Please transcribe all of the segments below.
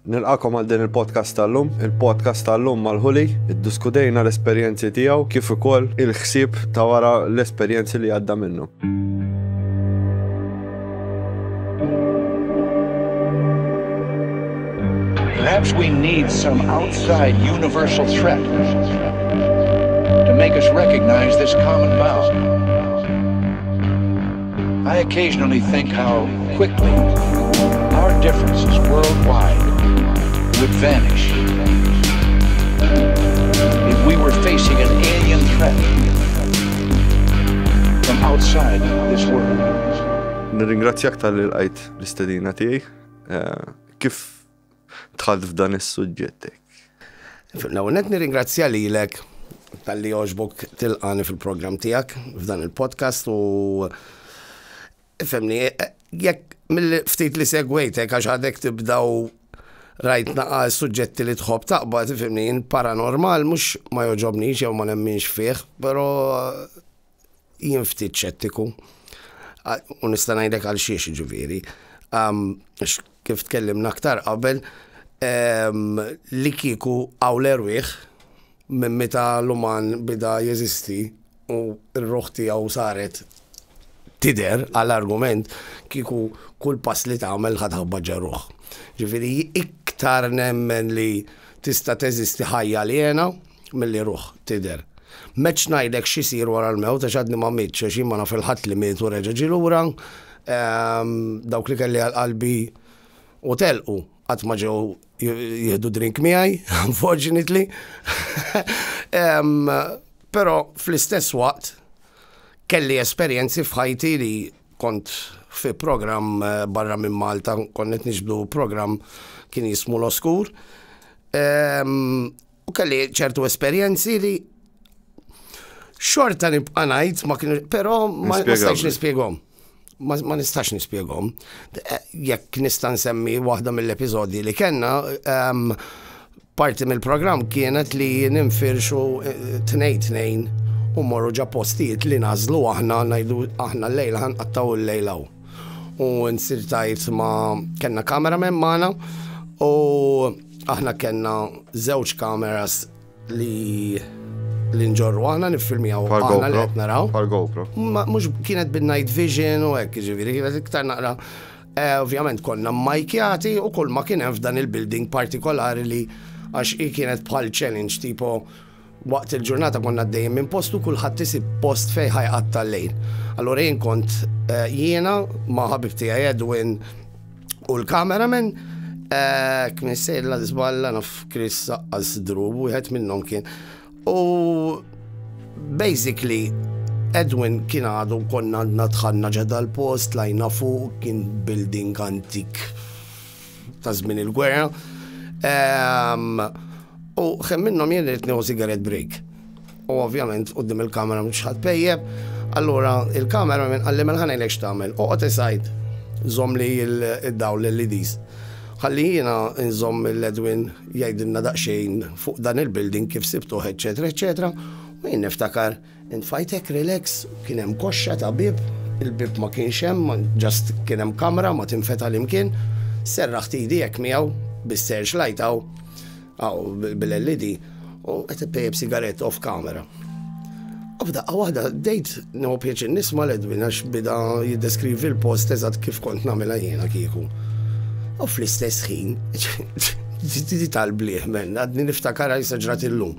Nilqakom għal din il-podcast tal-lum, il-podcast tal-lum mal-ħuli, iddiskutejna l-esperjenzi tiegħu kif ukoll il-ħsieb ta' wara l-esperjenzi li għadda minnu. Perhaps we need some outside universal threat to make us recognize this common bound. I occasionally think how quickly our differences worldwide would vanish if we were facing an alien threat from outside this world. Nirringrazzjak tal-li l-għajt l-istedina tiegħi. Eh, kif dħalt f'dan is-suġġett hekk. L-ewwel nett nirringrazzja lilek talli jogħġbok tilqani fil-programm tiegħek f'dan il-podcast u ifhemni jekk mill-ftit li segwejtek għax għadek tibda u rajt naqa suġġetti li tħobb taqbad ifhimni paranormal mhux ma joġobnix jew ma nemminx fih, però jien ftit ċettiku. U nista' ngħidlek għal xiex ġifieri. Kif tkellimna aktar qabel, li kieku hawn l-erwieħ minn meta l-uman bida jeżisti u r-ruħ tiegħu saret tidher għal argument, kieku kull pass li tagħmel ħa taħbad ġar ruħ. Ġifieri iktar nemmen li tista' teżisti ħajja aljena, milli ruħ tidher. M'għedtx ngħidlek x'isir wara l-mewt għax għadni ma mitx għax jien ma naf il-Ħadd li miet u reġa' ġie lura. Dawk li kelli għal qalbi u telqu qatt ma ġew jieħdu drink miegħi, unfortunately. Però fl-istess waqt kelli esperjenzi f'ħajti li kont fi programm eh, barra minn Malta, konnet nixbdu programm kien jismu l-Oskur. U kelli ċertu esperjenzi li xorta nibqa' ngħid ma kienu, però ma nistax nispjegom. Ma nistax nispjegom. Eh, jekk nista' nsemmi waħda mill-episodji li kellna, ehm, parti mill-programm kienet li ninfirxu eh, tnejn tnejn u morru ġa postijiet li nażlu aħna ngħidu aħna l-lejla ħanqattaw il-lejlaw. U nsir tajt ma kellna cameraman magħna u aħna kellna żewġ kameras li li nġorru aħna nifilmjaw aħna li qed naraw. Pal GoPro. Mhux kienet bin-night vision u hekk ġifieri kienet iktar naqra eh, ovvjament konna majkjati u kull ma kien hemm f'dan il-building partikolari li għax kienet bħal challenge tipo Waqt il-ġurnata konna għaddejjin minn post u kulħadd isib post fejn ħa jqatta' l-lejl. Allura jien kont jiena ma' ħabib tiegħi Edwin u l-cameraman kmin sejr la żballa naf Chris saqqas drub wieħed minnhom kien. U basically Edwin kien għadu konna għandna dħalna ġedha l-post, lajna fuq, kien building antik ta' żmien il-gwerra. Ehm, u xem minnhom jien rrid nieħu sigaret break. U ovvjament qudiem il-kamera mhux ħadd pejjeb. Allura il-kamera minn qalli minn ħanejlek x'tagħmel. Oqgħod isajd żomm li id-dawl l-LEDs. Ħalli jiena nżomm l-Edwin jgħidilna daqsxejn fuq dan il-building kif sibtuħ, eċetera, eċetera. U jien niftakar Int f'ħajtek relax, kien hemm koxxa ta' bieb, il-bieb ma kienx hemm, just kien hemm kamra ma tinfeta' li mkien, serraħt idi hekk miegħu bis-search light hawn, hawn bil-LED, u qed ippejjep sigarett off camera. U f'daqqa waħda dejt nieħu pjaċir nisma' l-Edwin għax bida jiddeskrivi l-post eżatt kif kont nagħmilha jiena kieku. U fl-istess ħin, tal-bliħ men, għadni niftakar għajsa ġrat illum.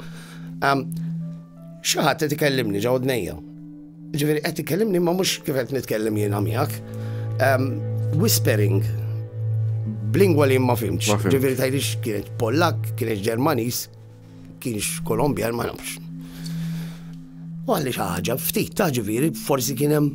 Xi ħadd qed ikellimni ġew dnejja. Ġifieri qed ikellimni ma mhux kif qed nitkellem jiena miegħek. Ehm, whispering b'lingwa li ma fimx. Ġifieri tgħidix kienet Pollak, kienet Ġermaniż, kienx Kolombjan ma nafx. U għalli xi ħaġa ftit ta' ġifieri forsi kien hemm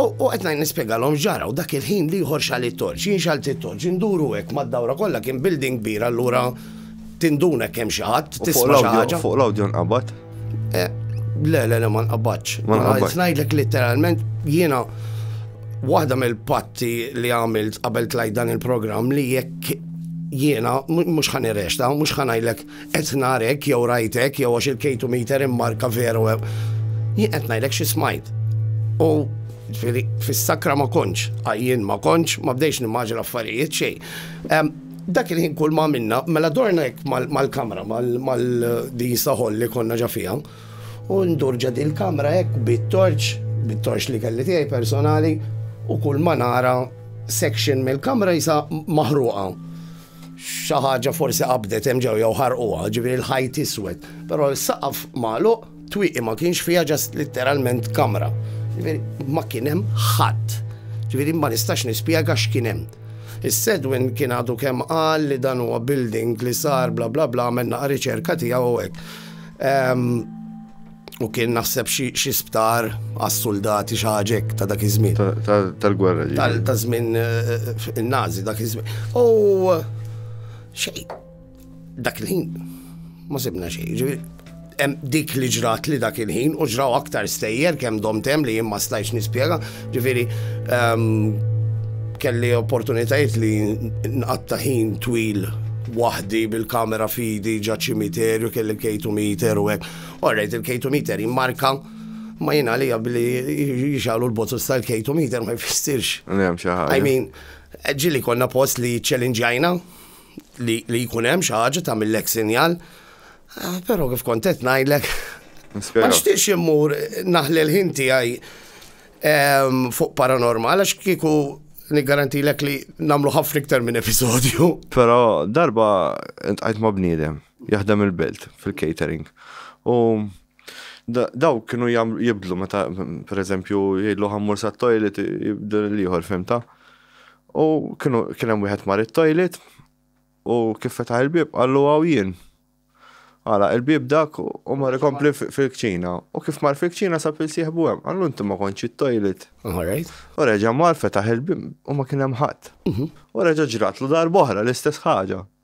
U qed ngħid nispjegalhom ġara u dak il-ħin l-ieħor xal it-torċ, jien xalt it-torċ, induru hekk mad-dawra kollha kien building kbir allura tinduna kemm xi ħadd tisma' xi ħaġa. Fuq l-awdjo nqabad? Eh, le, le, le, ma nqabadx. Ma nqabadx. Ngħidlek literalment jiena waħda mill-patti li għamilt qabel tlajt dan il-programm li jekk jiena mhux ħan irrexta, mhux ħan ngħidlek Qed narek jew rajtek jew għax il-kejtu meter immarka veru. Jien qed ngħidlek xi smajt. U fis-sakra ma konċ, għajjien ma konċ, ma bdejx nimmaġi l-affarijiet xej. Dak il-ħin kull ma minna, mela dorna jek mal-kamra, mal-din saħol li konna ġafija, u ndurġa din il-kamra jek bit-torċ, bit-torċ li kelli tiegħi personali, u kull ma nara section mill-kamra jisa maħruqa. Xi ħaġa forsi qabdet hemm ġew jew ħarquha, ġifieri l-ħajt iswed. Però s-saqaf magħluq, twieqi ma kienx fiha ġast litteralment kamra. Ġifieri ma kien hemm ħadd. Ġifieri ma nistax nispjega x'kien hemm. Is-Sedwin kien għadu kemm qal li dan huwa building li sar bla bla bla għamel naqa' riċerka tiegħu hekk. Ehm, U kien naħseb xi sptar għas-suldati xi ħaġa hekk ta' dak iż-żmien. Tal-gwerra ġi. Ta' żmien eh, eh, in-Nazi dak iż-żmien. U xej, dak il-ħin ma sibna xejn. Dik li ġrat li dak il-ħin u ġraw aktar stejjer kemm domtem li jien ma stajx nispjega, ġifieri ehm, kelli opportunitajiet li nqatta ħin twil waħdi bil-kamera fidi ġa ċimiterju kelli kejtu miter u hekk Orrejt il-K2 meter jimmarka ma jina li billi jixalu l-botus tal-K2 meter ma jfissirx. Njem xaħġa. I mean, ġili konna post li ċelinġajna li jkunem xaħġa ta' mill-ek sinjal. Ah, Pero kif kontet najlek. Ma xtiqx immur naħli l-ħin tiegħi ehm, fuq paranormal għax kieku l-ek li namlu ħafna iktar minn episodju. Pero darba intqajt ma' bniedem. Jaħdem il-belt fil-catering. U dawk kienu jibdlu meta pereżempju jgħidlu ħammur sa toilet jibdlu l-ieħor fimta. U kienu kien hemm wieħed mar it-toilet u kif fetaħ il-bieb qallu għaw jien. Għala il-bieb dak u mar ikompli fil-kċina. U kif mar fil-kċina sa pil sieħbu hemm qallu inti ma kontx it-toilet. U reġa' mar fetaħ il-bieb u ma kien hemm ħadd. Mhm. U reġa' ġratlu darba oħra l-istess ħaġa.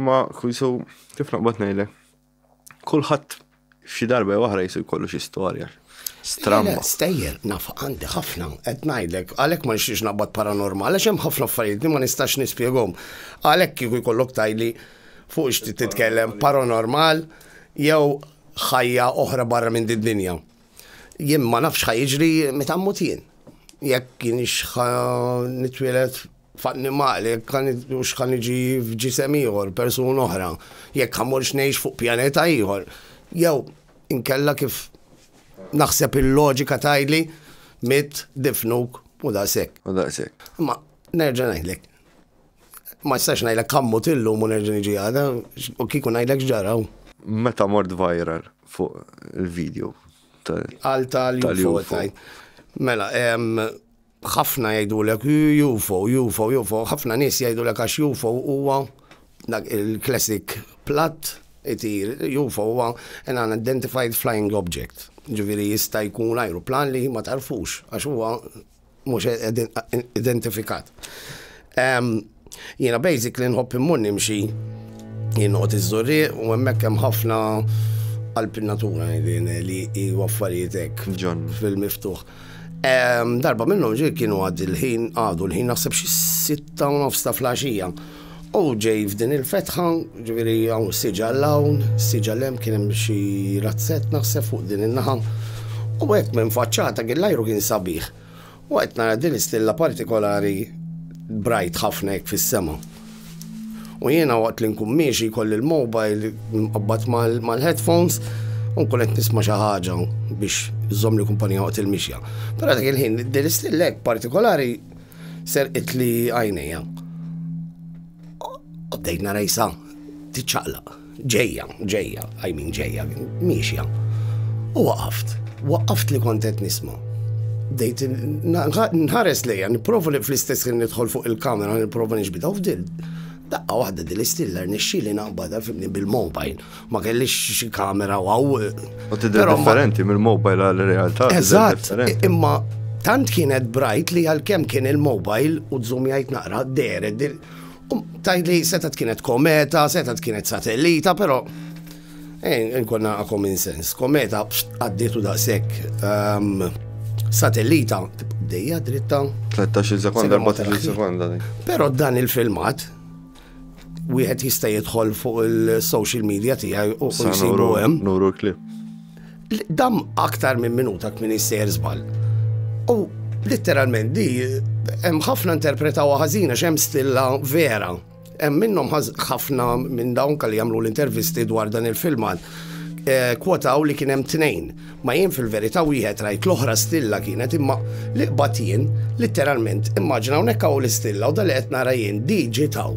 Ma kujsu kif naqbad ngħidlek. Kulħadd xi darba waħra jisu jkollu xi storja. Stramma. Stejjer, naf għandi ħafna, qed ngħidlek, għalhekk ma nixtiex naqbad paranormal, għax hemm ħafna affarijiet li ma nistax nispjegom. Għalhekk kieku jkollok tajli fuq xti titkellem paranormal jew ħajja oħra barra minn did-dinja. Jien ma nafx ħajġri meta mmut jien. Jekk kienx nitwielet f'annimali, jekk ħa hux ħa niġi f'ġisem ieħor, persuna oħra, jekk ħa morx ngħix fuq pjaneta ieħor, jew inkella kif naħseb il-loġika tajli mit difnuk u daqshekk. U daqshekk. Ma nerġa' ngħidlek. Ma jistax ngħidlek kammut illum u nerġa' niġi għada, u kieku ngħidlek ġaraw. Meta mort viral fuq il-video tal-UFO. Mela, Ħafna jgħidulek UFO, UFO, UFO, ħafna nies jgħidulek għax UFO huwa dak il-classic platt itir, UFO huwa an unidentified flying object. Ġifieri jista' jkun ajruplan li ma tarfux għax huwa mhux identifikat. Jiena basically nħobb immur nimxi, jien noqgħod iż-Żurrieq u hemmhekk hemm ħafna qalb in-natura li hu affarijiet hekk fil-miftuħ. Darba minnhom ġej kienu għad il-ħin għadu l-ħin naħseb xi sitta u nofs ta' flaxija. U ġej f'din il-fetħa, ġifieri hawn siġa l-hawn, siġa l-hemm kien hemm xi razzett naħseb fuq din in-naħa. U hekk minn faċċata kien l-ajru kien sabiħ. U qed nara din l-istilla partikolari brajt ħafna hekk fis-sema. U jiena waqt li nkun miexi jkolli l-mobile mqabbad mal-headphones u nkun qed nisma' xi ħaġa biex żomm li kumpanija waqt il-mixja. Però dak il-ħin din l-istilla hekk partikolari serqit li għajnejja. U bdejt nara jisa tiċċaqlaq. Ġejja, ġejja, I mean ġejja, miexja. U waqaft, waqaft li kont qed nisma'. Bdejt nħares lejja, nipprova li fl-istess kien nidħol fuq il-kamera, nipprova nixbita u fdil. Daqqa waħda din l-istiller nixxili naqbada fimni bil-mobile. Ma kellix xi kamera waw. U tidher differenti mill-mobile għal-realtà. Eżatt, imma tant kienet brajt li għal-kem kien il-mobile u d-zoom jgħid naqra d-deret Tgħid li setgħet kienet kometa, setgħet kienet satellita, però eh, nkonna common sense. Kometa għaddietu daqshekk ehm, satellita dejja dritta. 13 sekonda, 14 sekonda. Però dan il-filmat wieħed jista' jidħol fuq il-social media tiegħi u jsibu hemm. Nuru klip. Dam aktar minn minuta kmin jissejjer żball. U litteralment di hemm ħafna interpretaw ħażina x'hemm stilla vera. Hemm minnhom ħafna minn dawn kalli jagħmlu l-intervisti dwar dan il-filmat eh, kwotaw li kien hemm tnejn. Ma jien fil-verità wieħed rajt l-oħra stilla kienet imma li qbad jien litteralment immaġina hawnhekk hawn l-istilla u dal qed nara jien di ġitaw.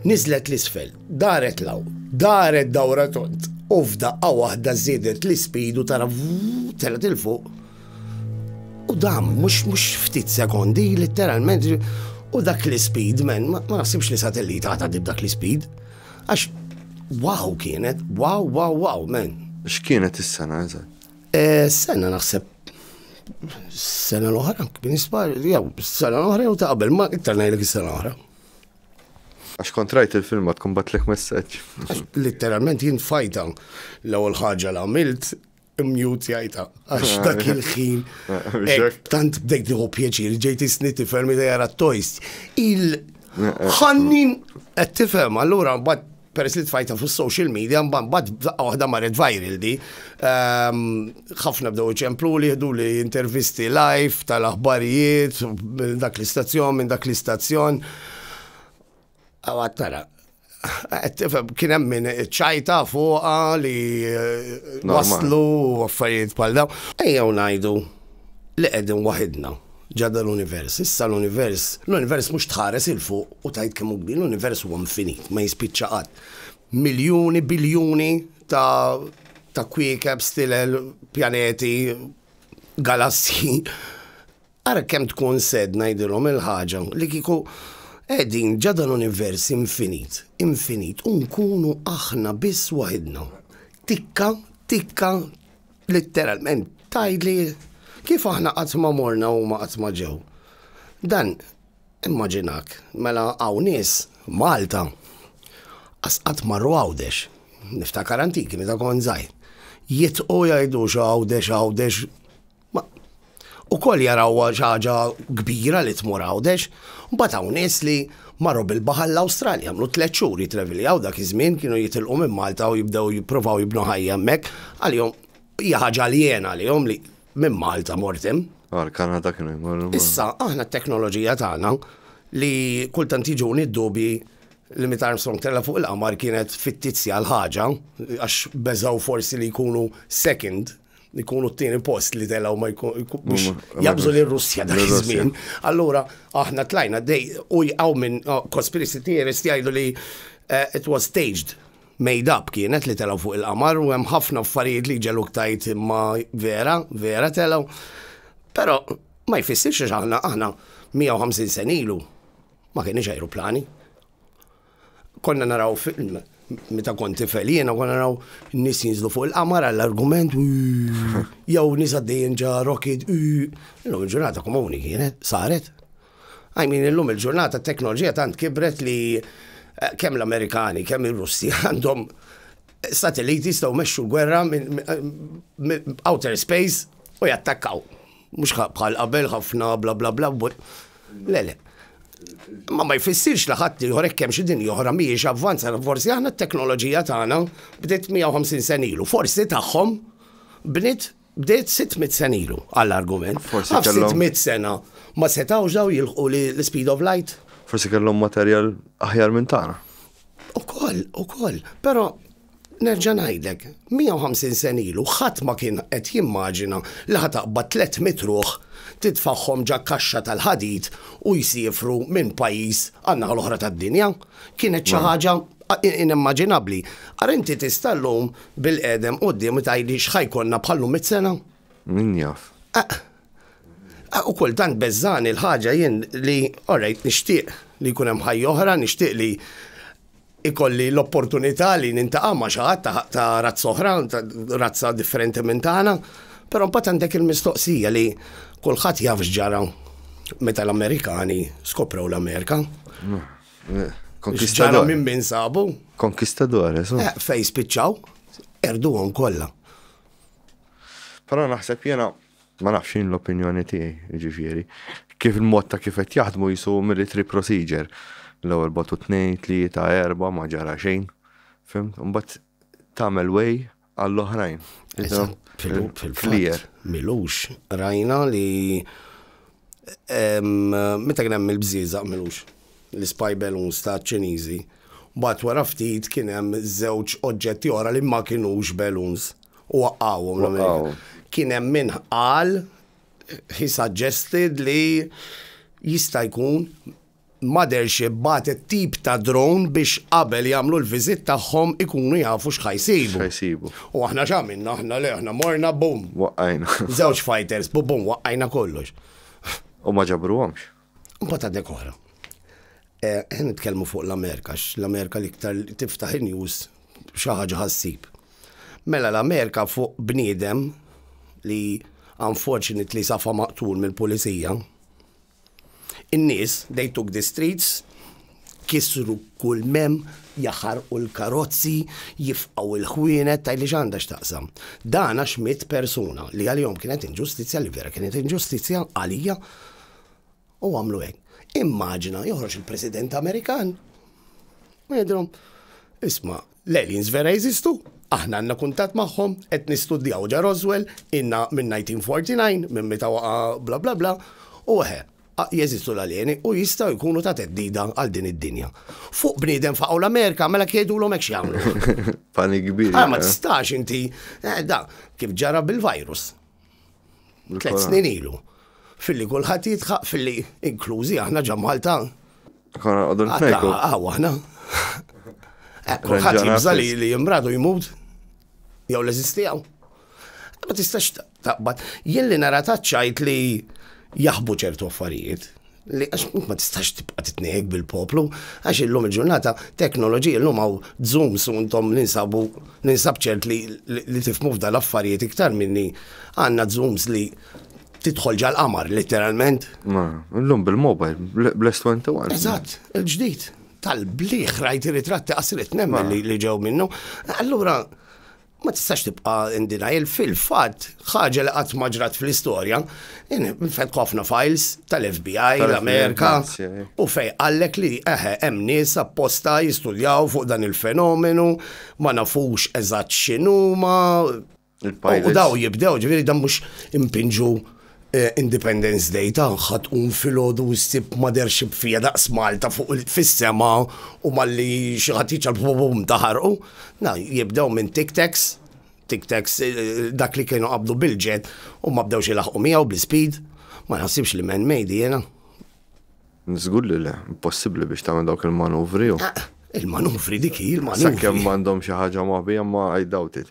Niżlet l-isfel. Daret 'l hawn, daret dawra tond, u f'daqqa waħda żiedet l-ispidu tara telgħet 'il fuq. U dam, mhux mhux ftit sekondi, letteralment, u dak l-ispid, men, ma naħsibx li satellita għata dib dak l-ispid. Għax, wow kienet, wow, wow, wow, men. X'kienet is-sena eżatt? Eh, sena naħseb sena l-oħra, kien ispar, jew sena l-oħra jew ta' qabel, ma iktar ngħidlek is-sena l-oħra. Għax kont rajt il-filmat tkun batlek messaġġ. Litteralment jien fajta l-ewwel ħaġa li għamilt mute jajta. Għax ah. dak il-ħin. Eh, tant bdejt nieħu pjaċir, ġejt isni tifhem li jara t-tojst. Il-ħannin qed tifhem, allura mbagħad peress li tfajta fuq social media, mbagħad bad f'daqqa waħda marret viral di. Ehm, ħafna bdew iċemplu li jieħdu li intervisti live tal-aħbarijiet, minn dak l-istazzjon, minn dak l-istazzjon. Għawat tara, kien hemm min ċajta fuqa li eh, waslu affarijiet bħal dawn. Ejjew ngħidu li qegħdin waħidna. Ġa dal-univers. Issa l-univers, l-univers mhux tħares 'il fuq u tgħid kemm hu kbir, l-univers huwa infinit, ma jispiċċa qatt. Miljuni, biljuni ta' ta' kwiekeb, stilel, pjaneti, galassji. Ara kemm tkun sed ngħidilhom il-ħaġa li kieku qegħdin ġa dal-univers infinit, infinit u nkunu aħna biss waħidna. Tikka, tikka, Litteralment tgħidli kif aħna qatt ma morna huma qatt ma ġew. Dan immaġinak, mela hawn nies Malta qas qatt marru Għawdex. Niftakar antiki meta kont żgħir. Jitqu jgħidu x'Għawdex Għawdex. Ukoll jarawha xi ħaġa kbira li tmur Għawdex. Mbagħad hawn nies li marru bil-baħar l-Awstralja, għamlu tliet xhur jitraviljaw dak iż-żmien kienu jitilqu minn Malta u jibdew jippruvaw jibnu ħajja hemmhekk. Għalihom hija ħaġa aljena għalihom li minn Malta mort hemm. Għall-Kanada kienu jmorru. Issa aħna t-teknoloġija tagħna li kultant jiġuni d-dubji li meta Armstrong tella' fuq il-qamar kienet fittizja l-ħaġa għax beżgħu forsi li jkunu second ikunu t-tieni post li telaw ma jkun biex jabżu li Russja dak iż-żmien. Allura aħna tlajna dej u jqaw minn oh, conspiracy theorist jgħidu li eh, it was staged made up kienet li telaw fuq il-qamar u hemm ħafna affarijiet li ġelu ktajt imma vera, vera telaw. Però ma jfissirx aħna aħna 150 senilu ma kienx aeroplani. Konna naraw film meta kont tifel jiena konna naraw nis jinżlu fuq il-qamar għall-argument jew nis għaddejjin ġa rocket illum il-ġurnata komuni kienet saret. I mean illum il-ġurnata t-teknoloġija tant kibret li eh, kemm l-Amerikani, kemm ir-Russi għandhom satelliti jistgħu mexxu gwerra minn outer space u jattakkaw. Mhux bħal qabel ħafna bla bla bla le le. Ma ma jfissirx li ħadd ieħor hekk hemm xi dinja oħra mhijiex avvanza, forsi aħna t-teknoloġija tagħna bdiet 150 sen ilu, forsi tagħhom bniet bdiet 600 sen ilu għall-argument. Forsi 600 sena ma setgħux daw jilħqu l-speed of light. Forsi kellhom materjal aħjar minn tagħna. Ukoll, ukoll. Però Nerġa' ngħidlek, 150 sena ilu ħadd ma kien qed jimmaġina li ħa taqbad 300 ruħ, titfagħhom ġa kaxxa tal-ħadid u jsiefru minn pajjiż għan-naħa l-oħra tad-dinja. Kienet xi ħaġa inimmaġinabbli. Ara inti tista' llum bilqiegħdem quddiemi tgħidli x'ħa jkollna bħal llum mitt sena? Min jaf. U kultant beżżagħni l-ħaġa jien li, orajt, nixtieq li jkun hemm ħajja oħra, nixtieq li ikolli l-opportunità li nintaqa' ma' xi ħadd ta' razza oħra, ta' razza differenti minn tagħna, però mbagħad għandek il-mistoqsija li kulħadd jaf x'ġara meta l-Amerikani skoprew l-Amerika. Konkistador. minn min sabu. Konkistador, esu. Eh, fej spiċċaw, erduhom kollha. Però naħseb jena Ma nafx, jien l-opinjoni tiegħi, jiġifieri, kif il-mod ta' kif qed jaħdmu qisu military procedure. L-ewwel bagħtu tnejn, tlieta, erbgħa, ma ġara xejn. Fimt? Imbagħad tagħmel way għall-oħrajn. Eżatt, fil-fatt. Milux, rajna li Meta kien hemm il-bżieżaq milux, l-ispy balloons taċ-Ċiniżi, mbagħad wara ftit kien hemm żewġ oġġetti oħra li ma kinux balloons u waqqgħuhom l-Amerika. Kien hemm min qal, he suggested li jista' jkun Mothership bagħtet tip ta' drone biex qabel jagħmlu l-visit tagħhom ikunu jafu x'ħa jsibu. X'ħa jsibu. U aħna x'għamilna aħna le aħna morna bum. Waqqajna. Żewġ fighters bu bum waqqajna kollox. U ma ġabruhomx. Imbagħad għadnek oħra. Qed nitkellmu fuq l-Amerika għax l-Amerika l-iktar tiftaħ in-news xi ħaġa ħassib. Mela l-Amerika fuq bniedem li unfortunately safa maqtul mill-pulizija. In-nies, they took the streets, kissru kull m'hemm, jaħarqu l-karozzi, jifqgħu l-ħwienet, tgħidli x'għandha x'taqsam. Dan għax miet persuna li għalihom kienet inġustizzja li vera kienet inġustizzja għalija u għamlu hekk. Immaġina joħroġ il-President Amerikan u jgħidilhom, isma' L-aliens vera jeżistu? Aħna għandna kuntatt magħhom, qed nistudjaw ġa Roswell, ilna minn 1949, minn meta waqa' bla bla bla, u eħe, jeżistu l-aljeni u jistgħu jkunu ta' theddida għal din id-dinja. Fuq bniedem faqgħu l-Amerika, mela jekk jgħidulhom hekk x'jagħmlu? Panik kbir. Ah, ma tistax inti, eh, da, kif ġara bil-virus. Tlet snin ilu. Filli kulħadd jitħaq filli inklużi aħna ġa Malta. Konna għadu nfejku. Għaw aħna. Eh, kulħadd jibża li li jimradu jmut. Jew l-eżistijaw. Eh, ma tistax taqbad. Jien li nara taċċajt li jaħbu ċertu affarijiet. li għax int ma tistax tibqa' titniehek bil-poplu, għax illum il-ġurnata teknoloġija illum hawn Zoom su intom ninsabu ninsab ċert li li tifmu f'dan l-affarijiet iktar minni għandna Zooms li tidħol ġal-qamar literalment. Ma, illum bil-mobile, bless 21. Eżatt, il-ġdid tal-bliħ rajt ritratti qasret nemmen li ġew minnu. Allura, Ma tistax tibqa' in denial, fil-fatt ħaġa li qatt ma ġrat fl-istorja, fetħu ħafna files tal-FBI, l-Amerika, u fej qallek li eħe hemm nies apposta jistudjaw fuq dan il-fenomenu, ma nafux eżatt x'inhuma, u daw jibdew, ġifieri dan mhux impinġu Independence Day tagħha tqum filgħodu u ssib mother ship fija daqs Malta fuq fis-sema u malli xi ħadd jiċċar bum ta' ħarqu. Na, jibdew minn Tic Tacs, Tic Tacs dak li kienu qabdu bil-ġed u ma bdewx ilaħqu miegħu bl-ispid. Ma naħsibx li man made jiena. Żgur li le, impossibbli biex tagħmel dawk il-manuvri. Il-manuvri dik hi l-manuvri. Sakemm m'għandhom xi ħaġa moħbija ma I doubt it.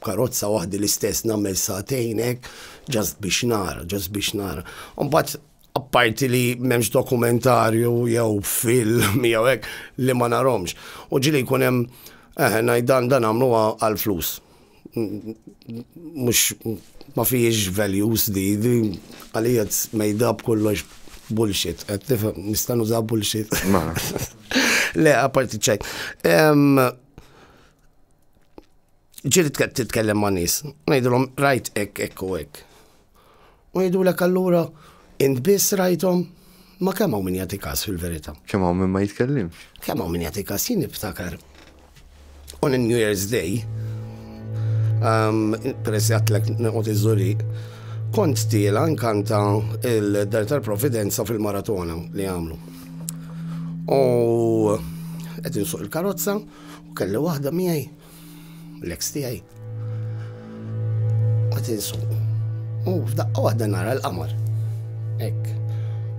B'karozza waħdi l-istess nagħmel sagħtejn hekk just biex nara, just biex nara. Mbagħad apparti li m'hemmx dokumentarju jew film jew hekk li ma narhomx. U ġili jkun hemm eh, ngħid dan dan għamlu għal flus. Mhux ma fihiex values di, di għalija mejda b'kollox bullshit. Qed tifhem, nista' nuża bullshit. Le, apparti ċajt. ġiri titkellem ma' nis, ngħidilhom rajt hekk hekk u hekk. U jgħidulek allura int biss rajthom ma kemm hawn min jagħti każ fil-verità. Kemm hawn min ma jitkellimx. Kemm hawn min jagħti każ jien niftakar. U New Year's Day, um, peress jatlek nqot iżuri, kont tiela nkanta il-Dar tal-Providenza fil-maratona li għamlu. U qed insuq il-karozza, U kelli waħda miegħi, l-eks tiegħi. Ma tinsu. U f'daqqa waħda nara l-qamar. Ek.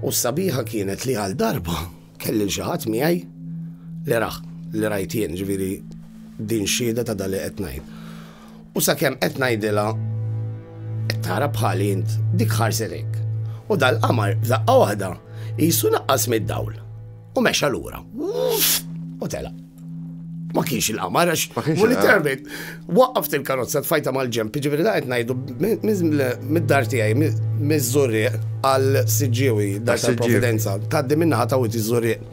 U sabiħa kienet li għal darba kelli xi ħadd miegħi li raħ, li rajt jien ġifieri din xieda ta' dali qed ngħid. U sakemm qed ngħidilha qed tara bħali int dik ħarset hekk. U dal-qamar f'daqqa waħda jisu naqqas mid-dawl. u mexa lura. U tela. Ma kienx il-qamar, għax ma kienx literalment. Waqqaft il-karozza tfajta mal-ġemp, ġifieri da qed ngħidu mid-dar tiegħi miż-żurrieq għal siġġiewi dar tal-Providenza. Tgħaddi minnaħa ta' witi żurrieq.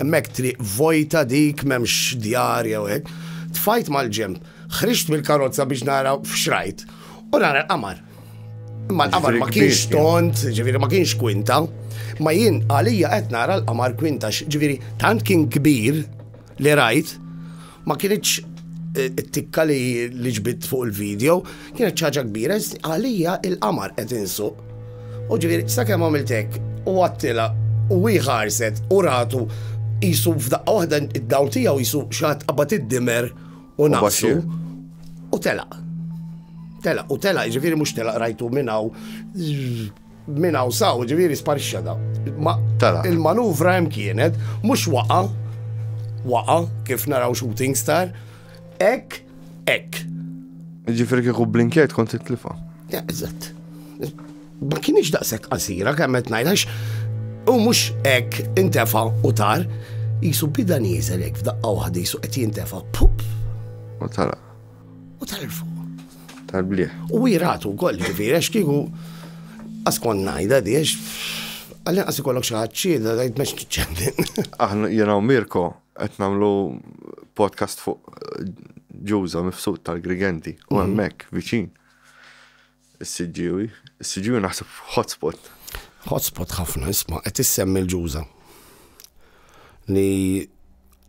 Hemmhekk triq vojta dik m'hemmx djar jew hekk. Tfajt mal-ġemp, ħriġt mill-karozza biex nara f'xrajt u nara l-qamar. Imma l-qamar ma kienx tont, ġiviri ma kienx kwinta, ma jien għalija qed nara l-qamar kwinta, ġiviri tant kien kbir li rajt, ma kienieċ eh, it-tikka li li ġbit fuq il-video, kienet ċaġa kbira, għalija il-qamar qed insu. U ġiviri, sa' kemm għamiltek, u għattila, u ħarset, u ratu, jisu f'daqqa waħda id-daw tijaw jisu xaħat qabad id-dimer, u nafsu u telaq. Telaq, u telaq, ġifiri mux telaq rajtu minnaw minnaw saw, ġifiri sparixxa da. Il-manuvra hemm kienet, mux waqa, waqa, kif naraw shooting star, ek, ek. Ġifiri kieku blinkiet kont it-tlifa. Eżatt. Ma kinitx daqshekk qasira kemm qed ngħid għax hu mhux hekk intefa' u tar, qisu bida nieżel hekk f'daqqa waħda qisu qed jintefa' pup. U tala. U tal fuq. Tal-bliħ. U jiratu wkoll ġifieri għax kieku askon ngħidha di għax għalli qas ikollok xi ħadd ċieda tgħid mex tiċċendin. Aħna jiena u Mirko qed nagħmlu podcast fuq ġuża mifsud tal-Grigenti u mm-hmm. hemmhekk viċin Is-Siġġiewi. Is-Siġġiewi naħseb hotspot. Hotspot ħafna, isma' qed issemmi l-Ġuża. Li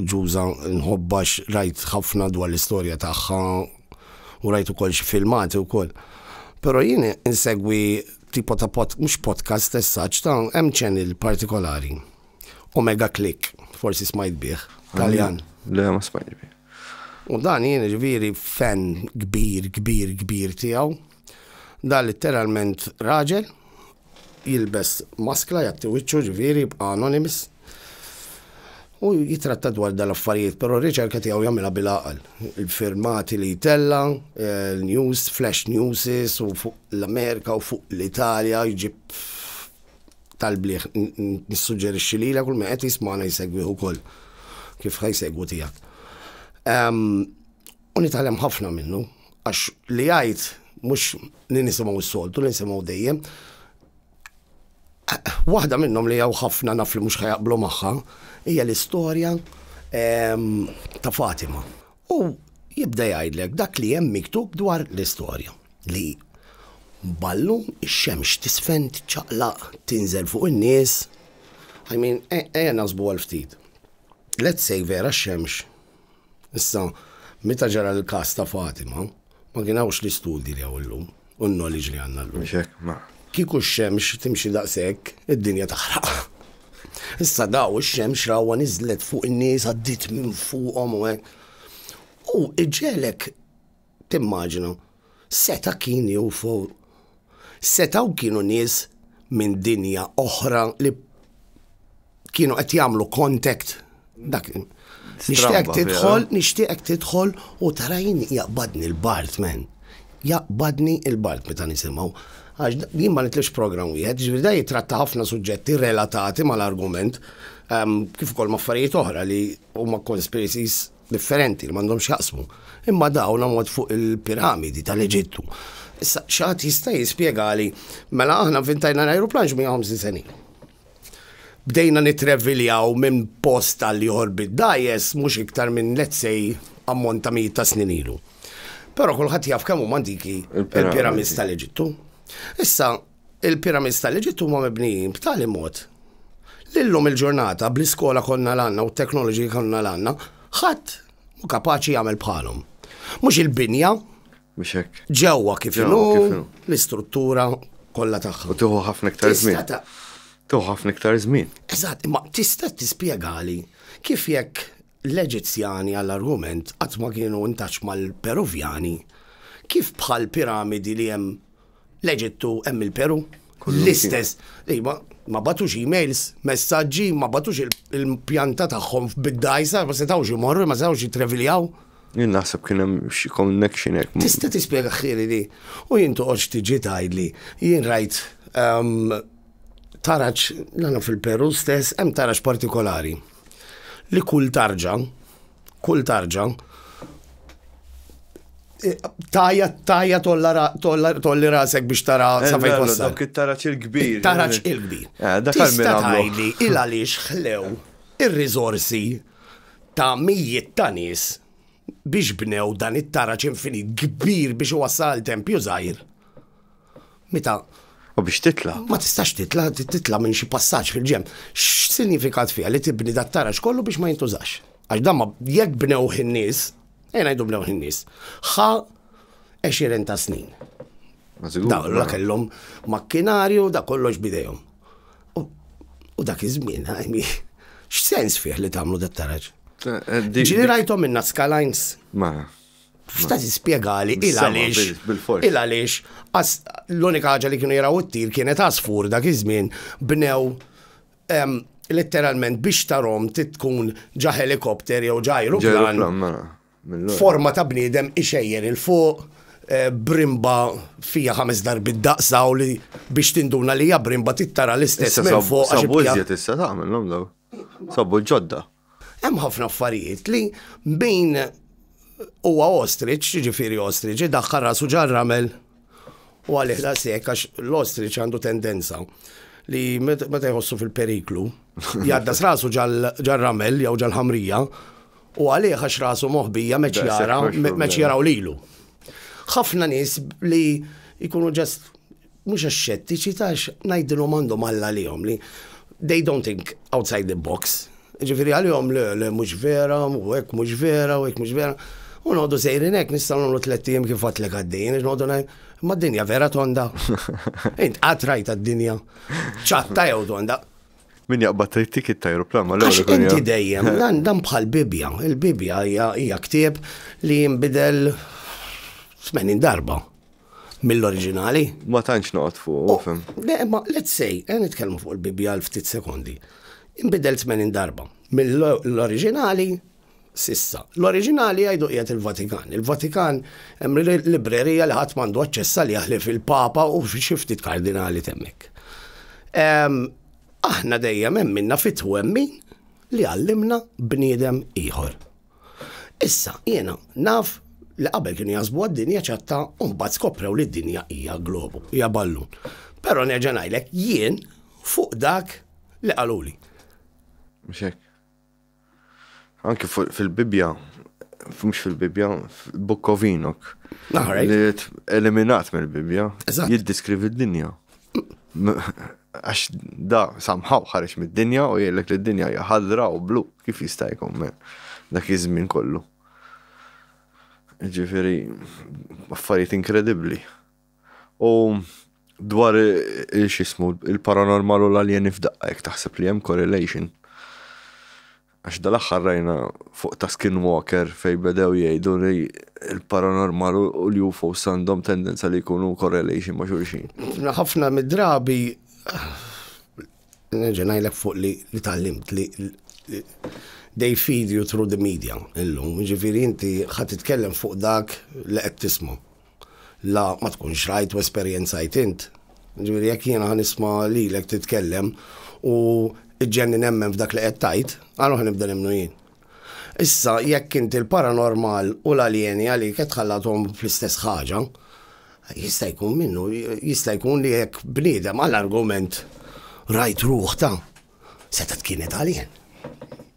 Ġuża nħobbha rajt ħafna dwar l-istorja tagħha u rajt ukoll xi filmati wkoll. Però jien insegwi tipo ta' pod, mhux podcast as such, ta' hemm channel partikolari. Omega Click, forsi smajt bih, Taljan. Le, ma smajt bih. U dan jien ġifieri fan kbir kbir kbir tiegħu. Dan litteralment raġel jilbes maskla jgħatti wiċċu ġifieri jibqa' anonymous u jitratta dwar dan l-affarijiet, però r-riċerka tiegħu jagħmilha bil-għaqal. Il-firmati li jtella, news, flash newses u fuq l-Amerika u fuq l-Italja jġib tal-bliħ nissuġġerixxi lilek kull min qed jismana jsegwih ukoll kif ħajsegwu tiegħek. U nitgħallem ħafna minnu għax li jgħid mhux li nisimgħu s-soltu, li nisimgħu dejjem. Waħda minnhom li jew ħafna naf li mhux ħajaqblu magħha hija l-istorja ta' Fatima. U jibda jgħidlek dak li hemm miktub dwar l-istorja, li ballun ix-xemx tisfen tiċċaqlaq tinżel fuq in-nies. I mean, e, ejja naħsbu għal ftit. Let's say vera x-xemx. Issa, meta ġara l-każ ta' Fatima, Ma kien hawnx l-istudji li hawn illum, u n-knowledge li għandna llum. Mhux hekk, ma. Kieku x-xemx timxi daqshekk, id-dinja taħraq. Issa daw ix-xemx rawha niżlet fuq in-nies, għaddiet minn fuqhom u hekk. U iġegħlek timmaġina, seta' kien jew setgħu kienu nies minn dinja oħra li kienu qed jagħmlu contact dak Nixtieq tidħol, nixtieq tidħol u tarajni jaqbadni l-Bart men. Jaqbadni l-Bart meta nisimgħu. Għax jien ma nitlix program wieħed, ġifieri da jitratta ħafna suġġetti relatati mal-argument ehm, kif ukoll maffarijiet oħra li huma conspiracies differenti li m'għandhomx x'jaqsmu, imma dawn ammont fuq il-piramidi tal-Eġittu. Issa x'għad jista' jispjegali mela aħna vintajna l-ajruplan x'mija ħamsin senin. Bdejna nitreviljaw minn post għal ieħor bid-dajes mhux iktar minn let's say ammont ta' mijiet ta' snin ilu. Però kulħadd jaf kemm huma antiki il-piramidi tal-Eġittu. Issa Il-Pyramids tal-Eġitt huma mibnijin b'tali mod li llum il-ġurnata bl-iskola kollha l-għandna u t-teknoloġiji kollha l-għandna, ħadd mhu kapaċi jagħmel bħalhom. Mhux il-binja. Mhux hekk. Ġewwa kif inhu l-istruttura kollha tagħha. U tieħu ħafna iktar żmien. Tieħu ħafna iktar żmien. Eżatt, imma tista' tispjegali kif jekk l-Eġizzjani għall-argument qatt ma kienu intaċ mal-Peruvjani, kif bħal piramidi li hemm L-Eġittu hemm il-Peru. L-istess. Iva, ma batux emails, messaġġi, ma batux il-pjanta tagħhom bid-dajsa, ma setgħux imorru, ma setgħux jitreviljaw. Jien naħseb kien hemm xi connection hekk. Tista' tispjega ħieli li u jien toqgħodx tiġi tgħidli jien rajt ehm, taraġ nagħna fil-Peru stess hemm taraġ partikolari li kull tarġa kull tarġa tajja tajja tolli rasek biex tara eh, sa fejn wassal. Dak it-taraċ il-kbir. Taraċ eh. il-kbir. Eh, dak Tista' tgħidli il għaliex ħlew ir-riżorsi ta' mijiet ta' nies biex bnew dan it-taraċ infinit kbir biex wassal tempju żgħir. Meta U biex titla. Ma tistax titla, titla minn xi passaġġ fil-ġem. X'sinjifikat fiha li tibni dat taraġ kollu biex ma jintużax? Għax dan ma jekk bnew in-nies, ejn ngħidu bnew in-nies, ħa 20 ta' snin. Da la kellhom makkinarju da kollox bidejhom. U dak iż-żmien, x'sens fih li tagħmlu dat taraġ? Eh, eh, Ġieli rajthom minna skalajns. Ma. F'ta' spjegali il għaliex il għaliex l-unika ħaġa li kienu jaraw it-tir kienet għasfur dak iż-żmien bnew letteralment biex tarom tkun ġa helikopter jew ġa aeroplan mela, forma ta' bniedem ixejjer il-fuq eh, brimba fija ħames darbit daqsa u li biex tinduna li hija brimba tittara l-istess minn fuq. Sabbu iżjed issa tagħmel l-omlaw. Sabbu ġodda. Hemm ħafna affarijiet li min huwa ostrich, jiġifieri ostrich, idaħħal rasu ġar-ramel u għalih daqshekk għax l-ostrich għandu tendenza li meta jħossu fil-periklu, jgħaddas rasu ġar-ramel jew ġal-ħamrija u għalih għax rasu moħbija meċ jara, meċ jaraw lilu. Ħafna nies li jkunu ġast mhux għax xettiċi ta' għax ngħidilhom għandhom Alla għalihom li they don't think outside the box. Ġifieri għalihom le le mhux vera, u hekk mhux vera, u hekk mhux vera. U noqogħdu sejrin hekk nistgħu nagħmlu tliet ijiem kif għadlek għaddejjin għax noqogħdu ngħid, ma d-dinja vera tonda. Int qatt rajt d-dinja ċatta jew tonda. Min jaqbad trid tikit ta' aeroplan ma l-ewwel. Inti dejjem, dan bħal Bibja. Il-Bibja hija ktieb li jinbidel 80 darba. mill-oriġinali. Ma tantx noqgħod fuq, oh, fim. Le, ma let's say, eh, nitkellmu fuq il-Bibbja għal ftit sekondi. Inbidel 80 darba. Mill-oriġinali sissa. L-oriġinali għajdu qiegħed il-Vatikan. Il-Vatikan hemm librerija li ħadd m'għandu aċċessa li jaħlif il-Papa u xi ftit kardinali temmek. Aħna dejjem hemm minna fit-twemmin li għallimna bniedem ieħor. Issa, jiena naf li qabel kienu jaħsbu għad-dinja ċatta u mbagħad skoprew li d-dinja hija globu, hija ballun. Però nerġa' ngħidlek jien fuq dak li qaluli. Mhux hekk. Anki fil-Bibbja, mhux fil-Bibbja, fil-Book of Enoch. Naħrek. Li eliminat mill-Bibbja. Jiddiskrivi d-dinja. Għax da somehow ħareġ mid-dinja u jgħidlek li d-dinja hija ħadra u blu. Kif jista' jkun me? Dak iż-żmien kollu. Ġifieri affarijiet inkredibbli. U dwar x'ismu il-paranormal u l-aljeni f'daqqa jekk taħseb li hemm correlation. Għax dal-aħħar rajna fuq ta' Skinwalker fejn bedew jgħidu li l-paranormal u l-UFOs għandhom tendenza li jkunu correlation ma' xulxin. Ħafna mid-drabi nerġa' ngħidlek fuq li tgħallimt li they feed you through the media illum, jiġifieri inti ħa titkellem fuq dak li qed tisma'. La, ma tkunx rajt u esperjenzajt int. Jiġifieri jekk jiena ħa nisma' lilek titkellem u iġġenni nemmen f'dak li qed tgħid, allura ħa nibda nemmnu jien. Issa jekk int il-paranormal u l-aljeni għalik qed tħallathom fl-istess ħaġa, jista' jkun minnu, jista' jkun li jekk bniedem għal argument rajt ruħ ta' setgħet kienet alien.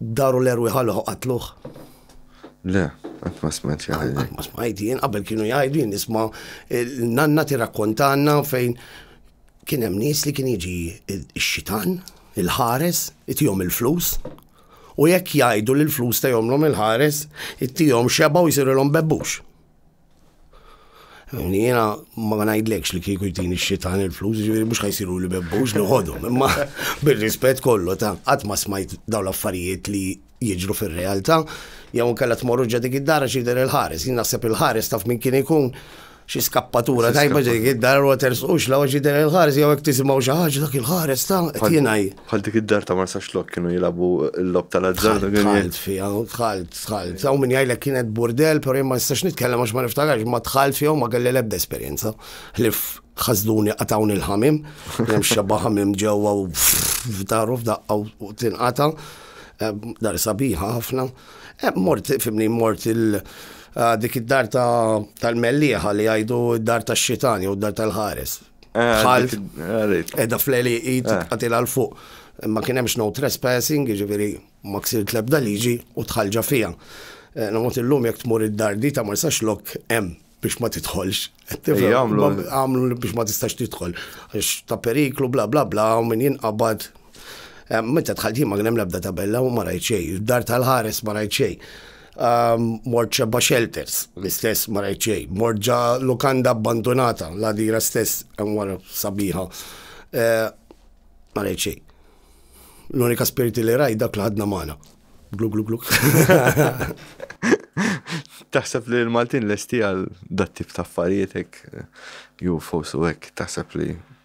Daru l-erwieħ għalih u qatluh? Le, qatt ma smajt xi ħaġa. Ma smajt jien qabel kienu jgħidu jien nisma' l-nanna tirrakkontanna fejn kien hemm nies li kien jiġi x-xitan, il-ħares, itihom il-flus. U jekk jgħidu li l-flus ta' jomlhom il-ħares, ittihom xeba u jsirilhom bebbux. Jiena ma ngħidlekx li kieku jtini x-xitan il-flus, ġifieri mhux ħajsiru li bebbux noħodhom, imma bir-rispett kollu ta' qatt ma smajt dawn l-affarijiet li jiġru fir-realtà, jew inkella tmorru ġa dik id-dara x'jidher il-ħares. Jien naħseb il-ħares taf minn kien ikun xi skappatura tajba dik id-dar u tersqux la jidher il-ħares jew hekk tisimgħu xi ħaġa dak il-ħares ta' qed jingħi. Bħal dik id-dar ta' Marsa Xlok kienu jilabu l-lob tal-azzard. Tħalt fija, tħalt, tħalt. Saw minn jgħajlek kienet burdel, pero jimma nistax nitkellem għax ma niftakarx, ma tħalt fija ma kelli lebda esperienza. Ħlif ħazduni qatawni l-ħamim, jem xabba ħamim ġewwa u f'daru f'daqqa u tinqata. Eh, dar sabiħa ħafna. Eh, mort, fimni, mort il- eh, dik id-dar tal-melliħa li għajdu id-dar tal-xitan jew id-dar tal-ħares. Ħalf. Edha fleli id għatila l-fuq. Ma kienemx no trespassing, ġiviri ma ksir tlebda liġi u tħalġa fija. Eh, Namot il-lum jek tmur id-dardi ta' ma jistax lok em biex ma titħolx. Għamlu biex ma tistax titħol. Għax ta' periklu, bla bla bla, u min jinqabad. Eh, meta tħalti ma kienem lebda tabella u ma rajt xej. Dar tal-ħares ma rajt xej. Mort xebba shelters, l-istess ma rajt xejn. Mort ġa lukanda abbandunata, l-għadira stess hemm wara sabiħa. Eh, ma rajt xejn. L-unika spiriti li rajt dak li ħadna magħna. Glu glu glu. Taħseb li l-Maltin lesti għal dat tip ta' affarijiet hekk UFOs u hekk taħseb li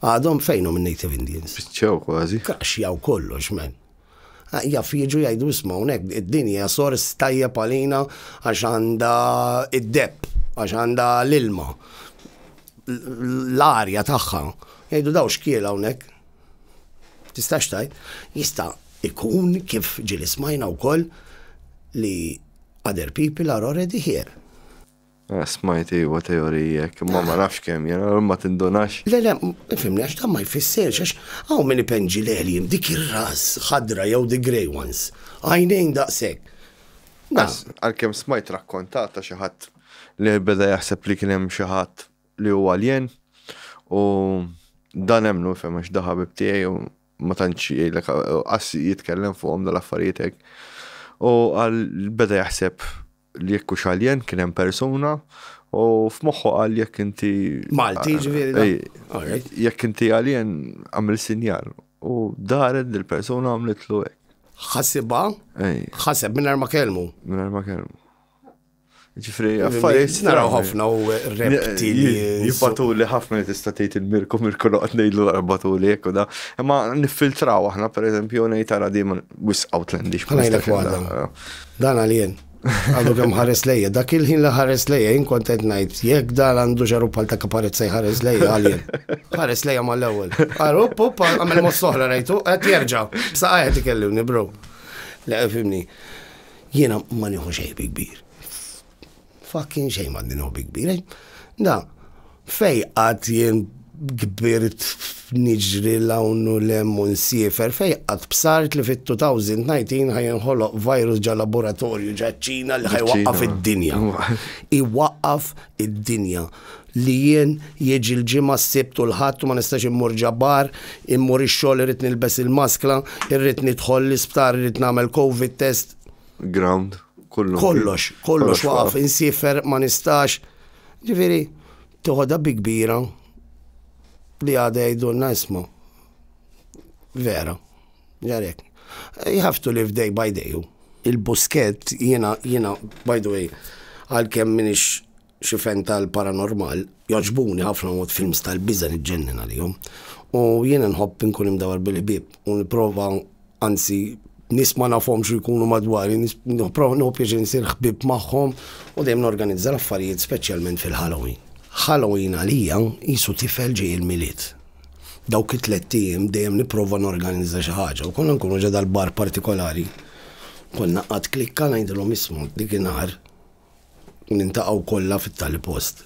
Għadhom fejnhom in-Native Indians? Spiċċaw kważi. Kaxjaw kollox, men. Ah, jaf jiġu jgħidu isma' hawnhekk id-din hija sors tajjeb għalina għax għandha id-depp, għax għandha l-ilma, l-arja tagħha. Jgħidu daw xkiel hawnhekk. Tistax tajt, jista' ikun kif ġili smajna wkoll li other people are already here. Eh, smajt iwa teorija, imma ma nafx kemm jena, ma tindunax. Le, le, fimni għax dan ma jfisser, għax għaw minn ipenġi l-eħlim dik ir-ras ħadra jew the grey ones. Għajnejn daqshekk. Għalkemm smajt rakkontata xi ħadd li beda jaħseb li kien hemm xi ħadd li huwa alien u dan hemm nufhem għax daħabib tiegħi u ma tantx jgħidlek qas jitkellem fuqhom dal-affarijiet hekk. U għal beda jaħseb li jekk hux alien kien hemm persuna u f'moħħu qal jekk inti Malti ġifieri. Jekk inti alien għamil sinjal u daret dil persuna għamlitlu hekk. Ħassibha? Ħaseb minn ma kelmu. Minn ma kelmu. Ġifri, affarijiet. Naraw ħafna u repti. Jibbatu li ħafna li tista' tgħid il-mirku mirku noqgħod ngħidlu l-arbatu li hekk u da. Imma niffiltraw aħna pereżempju ngħid tara dejjem wis Outlandish. Ħanajlek waħda. Dan għal jien. Għadu kemm ħares lejja, dak il-ħin li ħares lejja, jien kont qed ngħid, jekk dan għandu xaru bħal ta' kaparezza jħares lejja għal jien. Ħares lejja mal-ewwel. Għaru, pup, għamel mos soħra rajtu, qed jerġa'. Bsa qed ikellimni, bro. Le, fimni. Jiena ma nieħu xejn kbir. Fucking xejn m'għandi nħobbi kbir. Da, fej qatt jien kbirt niġri l-hawn u l-hemm u nsiefer, fej qatt bsart li fit-2019 ħaj inħoloq virus ġa laboratorju ġa ċina li ħaj waqqaf id-dinja. Iwaqqaf id-dinja li jien jiġi l-ġimgħa s-sibt u l-ħadd u ma nistax immur ġabbar, immur ix-xogħol irrid nilbes il-maskla, irrid nidħol l-isptar, irrid nagħmel covid test. Ground, kollu. Kollox, kollox waqaf, insifer, ma nistax. Ġifiri, toħodha bi kbira li għada jgħidulna isma. Vera, ġarek. You have to live day by day. Il-busket, jena, jena, by the way, għal-kem minix xifen tal-paranormal, joġbuni ħafna mod films tal-biża li ġennin għalihom. U jiena nħobb nkun imdawar bil-ħbib u niprofa anzi nis ma nafhom xu jkunu madwari, niprofa nħobb jiex nsir ħbib magħhom u dejjem norganizza l-affarijiet speċjalment fil-Halloween. Halloween għalija jisu tifel ġej il-milied. Dawk it-tlet ijiem dejjem niprofa norganizza xi ħaġa u konna nkunu ġa dal-bar partikolari. Konna qatt klikka ngħidilhom ismu dik inhar Niltaqgħu kollha fit-tali post.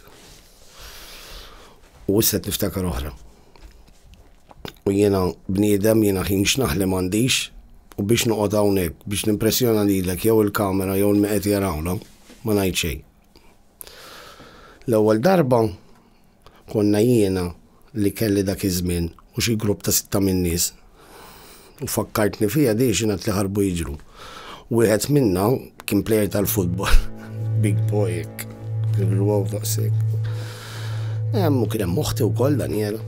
U issa qed niftakar oħra. U jiena bniedem, jiena ħin x'naħlem għandix, u biex noqgħod hawnhekk biex nimpressjona lilek jew il-kamera jew il-meqed jarawna, ma ngħid xejn. L-ewwel darba Konna jiena li kelli dak iż-żmien u xi grupp ta' sitta min-nies. U fakkartni fiha di xi ngħad li ħarbu jiġru. Wieħed minna kien plejer tal-futbol. Big boy hekk. Irruwaw daqshekk. Hemm u kien hemm oħti wkoll Daniela.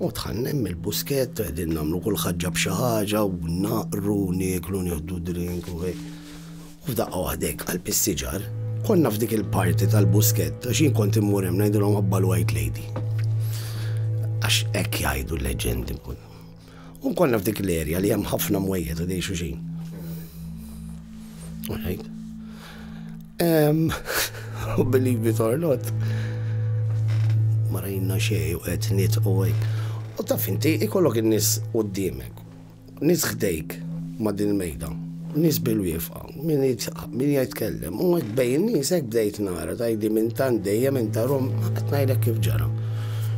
U dħalna hemm il-buskett u qegħdin nagħmlu kull ħaġġa b'xi ħaġa u naqru u nieklu nieħdu drink u hekk. U f'daqqa waħda hekk qalb is-siġar. Konna f'dik il-party tal-buskett għax jien kont immur hemm ngħidilhom ħobba l-white lady. Għax hekk jgħidu l-leġendi nkun. U konna f'dik l-erja li hemm ħafna mwejjed u dej xuxin. Alright. Um, believe it or not. Ma rajna xej u qed nitqu U taf inti ikollok in-nies qudiemek Nies ħdejk ma' din il-mejda, nies bil-wieqfa, min jgħid tkellem, u hekk bejn in-nies hekk bdejt nara tgħidli minn tant dejjem int għarhom qed ngħidlek kif ġara.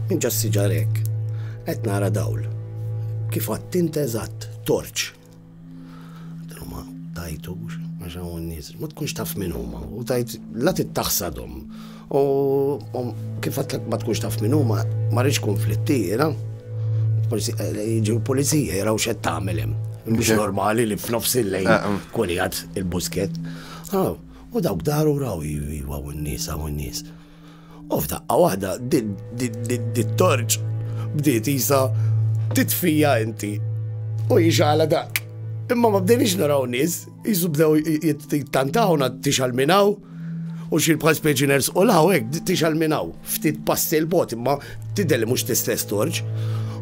Minn ġo s-siġar hekk qed nara dawl. Kif għadt int eżatt, torċ. Għatlu ma tajtux, għax hawn nies, ma tkunx taf min huma, u tajt la tittaħsadhom. U kif għatlek ma tkunx taf minn huma, ma rridx konflitti jiena. Jiġu l-pulizija jaraw x'qed tagħmel hemm. Mhux normali li f'nofs il-lejn eh, eh. kuljat il-busket. Ah, u dawk daru raw jiva u n-nies u n-nies. U f'daqqa waħda dit-torċ bdiet jisa titfija inti u jixala dak. Imma ma bdejniex naraw nies, Isu bdew jittantaw nad tixal minaw u xi bħal speċi ners u law hekk tixal minaw. Ftit passi l-bot imma tidher li mhux tistess torġ.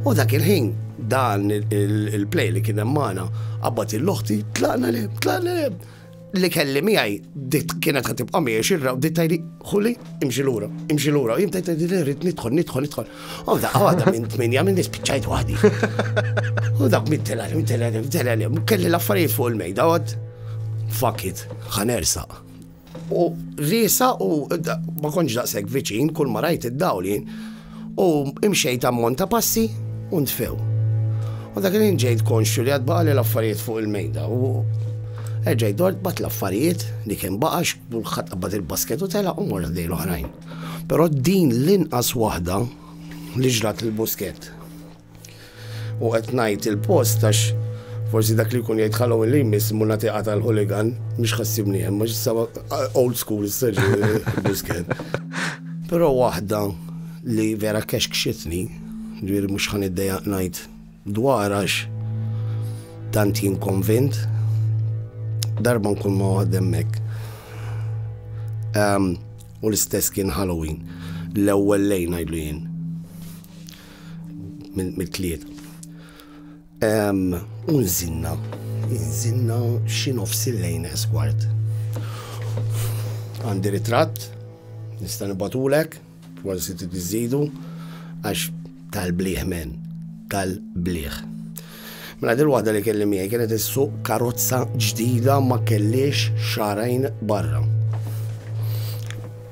U dak il-ħin dan il-play li kien hemm magħna qabad il-loħti tlaqna li tlaqna li li kelli miegħi dit kienet ħad tibqa' miegħi xirra u dit tajli ħuli imxi lura, imxi lura, jien tajt li rrid nidħol, nidħol, nidħol. U daqqa għadha minn tminja minn nispiċċajt waħdi. U dak minn telgħet, minn telgħet, minn telgħet, kelli l-affarijiet fuq il-mejda għod. Fuck it, ħanersa. U risa u ma konġ daqshekk viċin kull ma rajt id-dawli. U imxejt ammont ta' passi u ntfew. U dak li ġejt konxju li għad baqali l-affarijiet fuq il-mejda u Erġaj dort bat l-affarijiet li kien baqax, bulħat qabbat il-basket u tela u morra dej l-oħrajn. Però din l-inqas waħda li ġrat lil Busquet. U qed ngħid il-post għax forsi dak li jkun jgħid ħalgħu li jmiss mu nagħtiqa tal-ħuligan mhux ħassibni hemm għax issa old school issa Busquet. Però waħda li vera kexkxitni, ġifieri mhux ħan iddejjaq ngħid Dwar għax tant jien konvint, darba nkun ma' waħda hemmhekk. Ehm, u l-istess kien Halloween, l-ewwel lejn ngħidlu jien. Mit-tliet. Ehm, u nżinna, nżinna xi nofs il-lejn eskwart. Għandi ritratt, nista' nibatulek, Prosit u tiżżidu għax tal-blieh men, tal-blieh. Mela dil-waħda li kelli miegħi kienet issuq karozza ġdida ma kellix xarajn barra.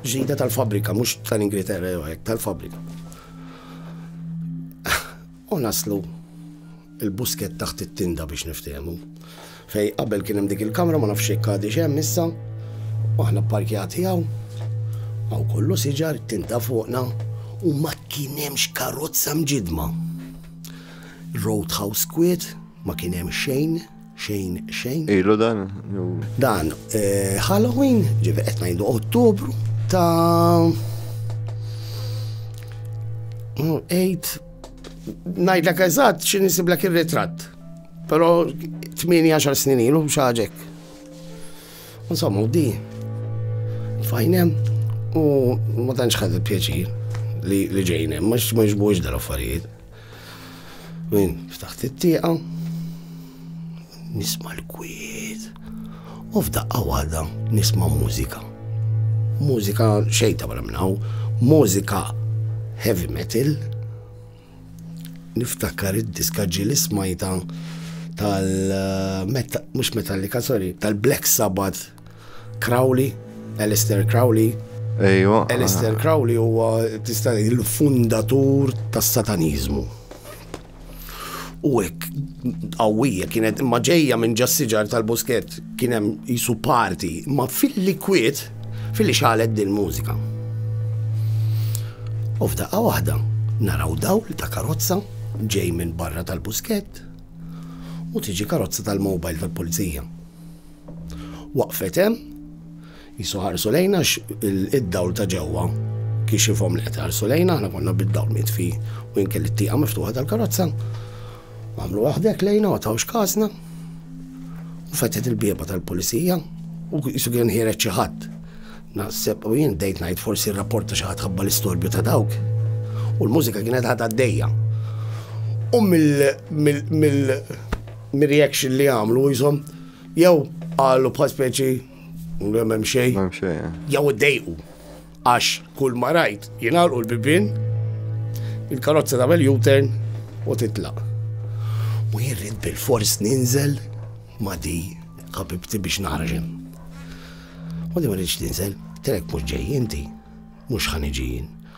Ġdida tal-fabrika, mhux tal-Ingilterra jew hekk, tal-fabrika. U naslu l-buskett taħt it-tinda biex niftehmu. Fejn qabel kien hemm dik il-kamra ma nafx jekk għadix hemm issa, u aħna pparkjati hawn, hawn kollu siġar, it-tinda fuqna, u ma kien hemmx karozza mġiddma. Roadhouse kwiet, ma kien hemm xejn. Xejn, xejn. Ilu dan? Dan, eh, Halloween, ġivi qed ngħidu Ottubru ta' 8 ngħidlek eżatt xi nisiblek ir-ritratt. Però 18 snin ilu xaġek. Insomma, u di. Fajnem u ma tantx ħadet pjaċir li ġejnem, ma xmaġbux dal-affarijiet. Min ftaħt it-tieqa, nisma' l-kwiet u f'daqqa waħda nisma' mużika. Mużika xejta wara minn hawn, mużika heavy metal. Niftakar id-diska ġiel ismajta tal mhux Metallica, sorry, tal-Black Sabbath Crowley, Alistair Crowley. Ejwa. Alistair Crowley huwa tista' il-fundatur tas-sataniżmu. U hekk qawwija kienet imma ġejja minn ġassiġar tal-Busket kien hemm jisu parti, ma fil-likwid fil-li xalet din mużika. U f'daqqa waħda naraw dawl ta' karozza ġej minn barra tal-busket u tiġi karozza tal-mobile tal-pulizija. Waqfet hemm, jisu ħarsu lejna id-dawl ta' ġewwa kixifhom li qed ħarsu lejna, aħna konna bid-dawl mitfi u jinkel it-tieqa miftuħa tal-karozza. Għamlu waħdek lejna u tawx kasna. U fetet il-bieba tal-pulizija u jisu kien ħiret xi ħadd. Naħseb u jien dejt ngħid forsi r-rapport ta' xi ħadd ħabba l-istorbju ta' dawk. U l-mużika kienet ħadha d-dejja. U mill-reaction li għamlu jizom, Jew qalu bħal speċi minn hemm xejn. Hemm xejn. Eh. Jew iddejqu. Għax kull ma rajt jingħalqu l-bibien, il-karozza tagħmel U-turn u titlaq. U jirrid bil-fors ninżel ma di ħabibti biex naħraġem. U di ma rridx ninżel, telek mhux ġej inti, mhux ħaniġijin.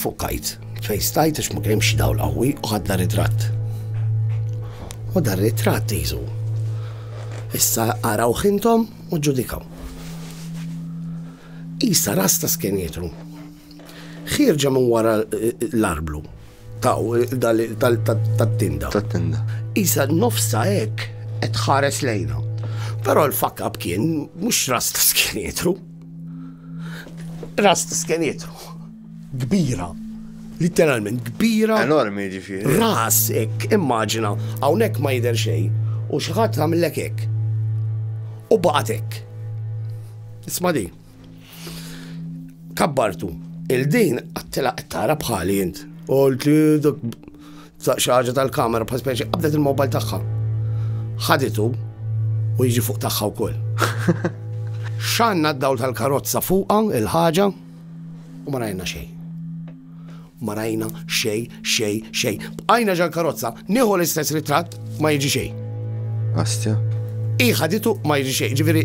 Fukajt, fejn stajt għax ma kienx dawl qawwi u ħadna ritratt. U dar ritratt jizu. Issa araw ħintom u ġudikaw. Issa rasta skenjetru. Xirġa minn wara l-arblu Taw, tat-tinda. Tat-tinda. Isa nofsa hekk qed ħares lejna. Però l-fakab kien mhux ras ta' skenietru. Ras ta' skenietru. Kbira literalment kbira. Enormi ġifiri. Ras ek, immaġina, hawnhekk ma jidher xejn u xi ħadd għamillek hekk. U baqgħet hekk. Isma' di. Kabbartu, il-din għattila tara bħali jint. U l-tlidok xaġa tal-kamera bħal speċi qabdet il-mobile tagħha. Ħaditu u jiġi fuq tagħha wkoll. Xanna d-dawl tal-karozza fuqha il-ħaġa u ma rajna xejn. Ma rajna xejn, xejn, xejn. Bqajna ġall-karozza, nieħu l-istess ritratt, ma jiġi xejn. Astja. Hi ħaditu ma jiġi xejn, ġifieri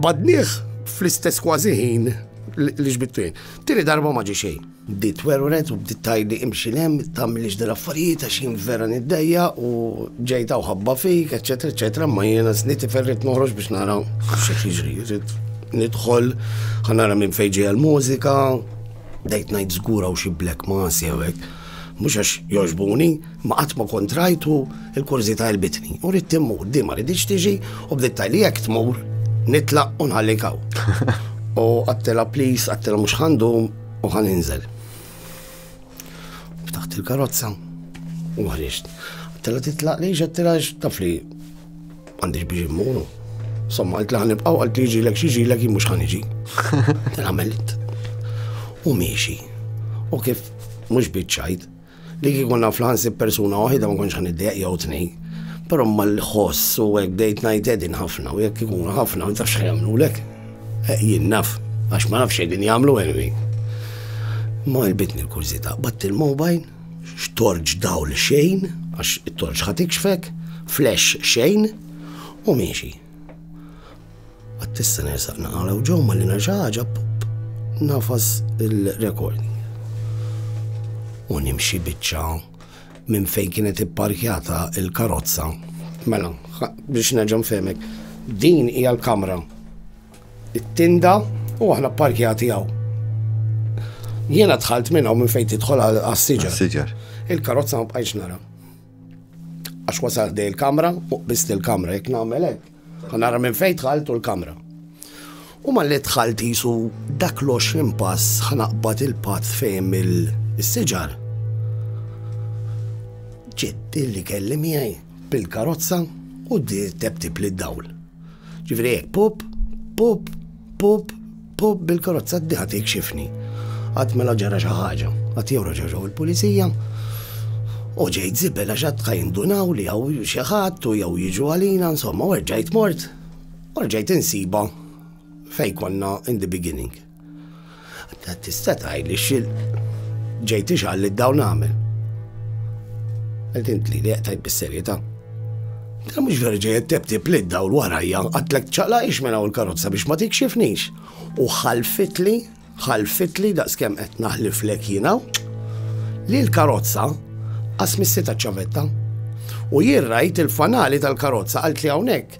badnieh fl-istess kważi ħin li ġbittu jien. Tieni darba ma ġi xejn. Bdiet werwret u bdiet tajli imxi lem, tagħmilix dil affarijiet għax jien vera niddejja u ġejta u ħabba fik, eċetera, eċetera, ma jiena sniti ferrit noħroġ biex nara xi jiġri. Nidħol, ħanara minn fejn ġejja l-mużika, Bdejt ngħid żgur hawn xi black masi jew hekk. Mhux għax jogħġbuni, imma qatt ma kont rajt u l-kurżità għelbitni. U ridt immur, di ma riditx tiġi u bdiet tgħidli jekk tmur nitlaq u nħallik hawn. U għattela please, għattela mhux ħandum u ħan inżel. Ftaħt il-karozza u ħriġt. Għattela titlaq li ġattela tafli M'għandix biex immuru. Somma, għalt li ħanibqaw, għalt li ġilek xi ġilek jimux ħaniġi. Għamilt. U miexi. U kif mhux biċċajt li kieku naf l-ħansib persuna waħida ma konċ ħaniddeq jew tnej. Però ma l-ħoss u hekk bdejt ngħid edin ħafna u jekk ikun ħafna ma tafx jagħmlulek. Eh, jien naf, għax ma nafx qegħdin jagħmlu anyway. Ma jbitni l-kurżità, batt il-mobile x'torġ dawl xejn, għax it-torġ ħa tikxfek, flash xejn, u miexi. Għattissa nersaq naqala u ġew malli nerġa' ħaġa nafas il-recording. U nimxi biċċa minn fejn kienet ipparkjata il-karozza. Mela, biex nerġa' nfemek, din hija l-kamra it-tinda u aħna pparkjati hawn. Jiena dħalt minn hawn minn fejn tidħol għas-siġar. Il-karozza ma bqajx nara. Għax wasal dej il-kamra u qbist il-kamra jekk nagħmel hekk. Nara minn fejn dħalt u l-kamra. U ma li dħalt jisu dak l-20 pass ħanaqbad il-patt fejn il-siġar. Ġiet li kelli miegħi bil-karozza u d-dir tebtib lid-dawl. Ġifieri hekk pup, pup, pup, pup bil-karozza d ħadd jikxifni. Qatt mela ġara xi ħaġa, qatt jew raġaġaw il-pulizija, u ġejt zibel għax qatt jindunaw li hawn xi ħadd u jew jiġu għalina insomma u rġajt mort, u rġajt insiba fej konna in the beginning. Tista' tgħidli x'il ġejt ixgħal li dawn nagħmel. Qed intli li qtajt bis-serjetà. Ta' mhux vera ġejt tebtib li daw warajja għatlek ċaqla ix mela u l-karozza biex ma tikxifnix. U ħalfitli, ħalfitli daqskemm qed naħliflek jiena li l-karozza qasmissita ċavetta. U jirrajt il-fanali tal-karozza għalt li hawnhekk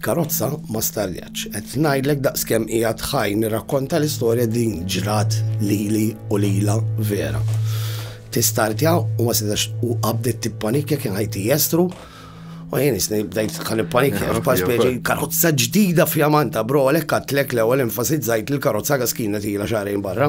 Karozza ma starjatx. Qed ngħidlek daqskemm qiegħed ħaj nirrakkonta l-istorja din ġrat lili u lilha vera. Tistartja u ma setax u qabdet tippanikja kien ħajti jestru U jien isni bdejt kan il-panikja, f'pax bieġi karozza ġdida fjamanta, bro, għalek għatlek l ewwel enfasizzajt il-karozza għas kienet ila xarajn barra.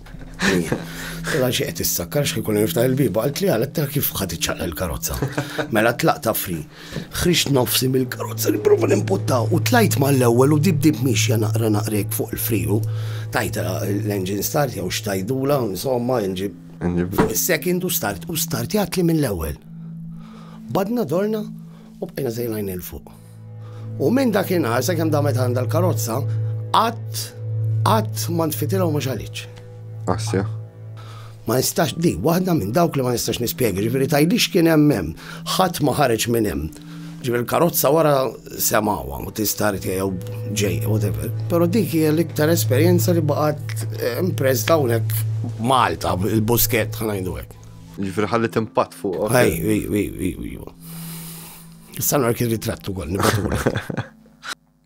Tela xi qed issakkar xi jkun niftaħ il-biba, qalt li għal tela kif ħadd iċċaqla l-karozza. Mela tlaq ta' fri. Ħriġt nofsi mill-karozza nipprova nimputta u tlajt mal-ewwel u dib dib mixja naqra naqrek fuq il-friju. Tajt l-engine start jew xtajdula, insomma, inġib. Second u start u start jgħat li mill-ewwel. Badna dorna u bqajna zejlajn il-fuq. U minn dakinhar sakemm damet għandha l-karozza, qatt qatt ma ntfitilha u ma xalitx. Assja. Ma nistax di, waħda minn dawk li ma nistax nispjega, ġifieri tajlix kien hemm hemm, ħadd ma ħareġ minn hemm. Ġifieri l-karozza wara semawa u tista' jew ġej, whatever. Però dik hija l-iktar esperjenza li baqgħet eh, impress hawnhekk Malta, il-busket ħanajdu hekk. Ġifieri ħallit impatt fuq. Ej, ej, ej, ej, ej. Issa nark il-ritratt ukoll nibatulek.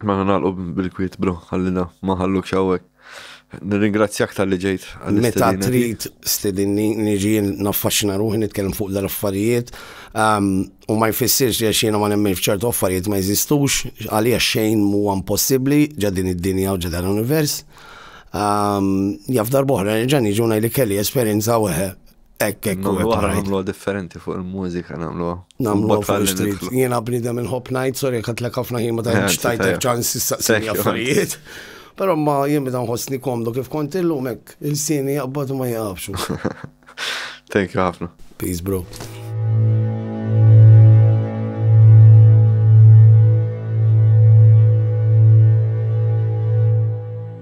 Ma mela nagħlqu bil-kwiet bro, ħallina ma ħalluk xawek. Nirringrazzjak tal-li ġejt. Meta trid stedinni niġi naffaxxina ruħi nitkellem fuq dal-affarijiet ehm, u ma jfissirx li xina ma nemmen f'ċertu affarijiet ma jeżistux għalija xejn huwa impossibbli ġa din id-dinja u ġa dan l-univers. Ehm, jaf darbohra nerġa' niġu ngħidli kelli esperjenza weħe Ekk, ekk, u għara namlu differenti fuq il-mużika namlu. Namlu fuq il-street. Jena bnidem il-hop night, sorry, għat l-ek għafna jima ta' ċtajt ċans s-saqsini għaffarijiet. Pero ma jien bidan ħosni komdu kif kont illum hekk il-sini jaqbad ma jaqabxu. Thank you ħafna. Peace bro.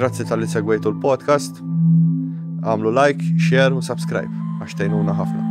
Grazzi tal-li segwejtu l-podcast. Għamlu like, share u subscribe għax tejnuna ħafna.